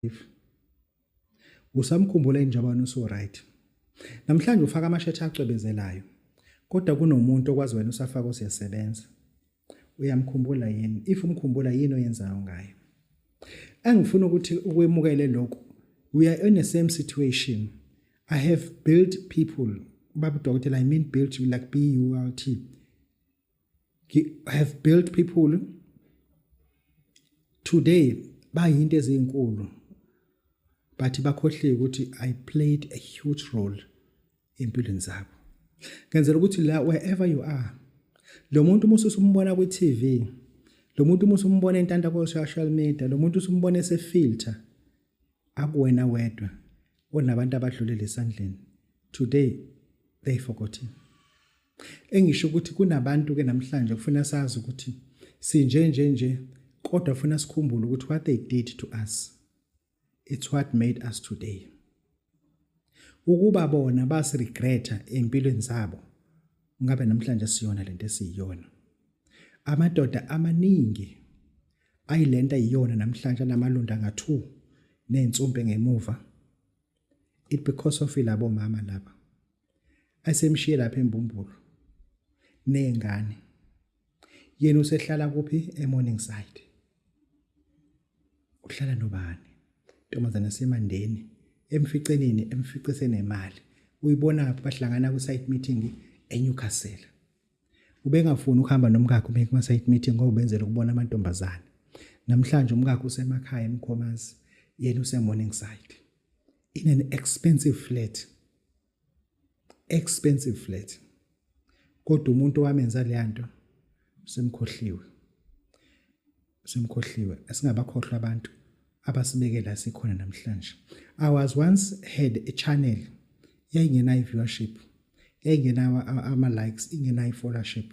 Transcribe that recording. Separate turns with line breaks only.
life usamkhumbula injabana uso right namhlanje ufaka amashetha acwebezelayo kodwa kunomuntu okwazi wena usafaka usiyasebenza uyamkhumbula yini if umkhumbula yini oyenzayo ngayo engifuna ukuthi ukwemukele lokho we are in the same situation i have built people baba dokotela i mean built you like b u l t have built people today bayinto ezinkulu but bakhohliwe ukuthi i played a huge role empilweni zabo ngenzela ukuthi la wherever you are lo muntu uma usumbona kwi TV lo muntu uma usumbona entanda ko social media lo muntu usumbona ese filter akuwena wedwa onabantu abadlulele esandleni today they forgot him engisho ukuthi kunabantu ke namhlanje kufuna sazi ukuthi sinje nje nje kodwa funa sikhumbule ukuthi what they did to us it's what made us today ukuba bona basiregreta empilweni zabo Ngabe namhlanje siyona lento esiyiyona. Amadoda amaningi ayilento ayiyona namhlanje namalunda ngathu nensumpe ngemuva. It because of ilabo mama laba. Asemshiye lapha embumbulu. Nengane. Yena usehlala kuphi eMorningside? uhlala nobani ntombazana semandeni emficeleni emficise nemali uyibona ngapha bahlangana ku site meeting eNewcastle ubengafuni ukuhamba nomkakhe ume kuma site meeting ngoba ubenzela ukubona amantombazana namhlanje umkakhe usemakhaya emkhomazi yena use Morningside in an expensive flat expensive flat kodwa umuntu owamenza leya nto semkhohliwe semkhohliwe asingabakhohlwa abantu abasibekela sikhona namhlanje i was once had a channel yayingenayo viewership yayingenayo ama likes ingenayo followership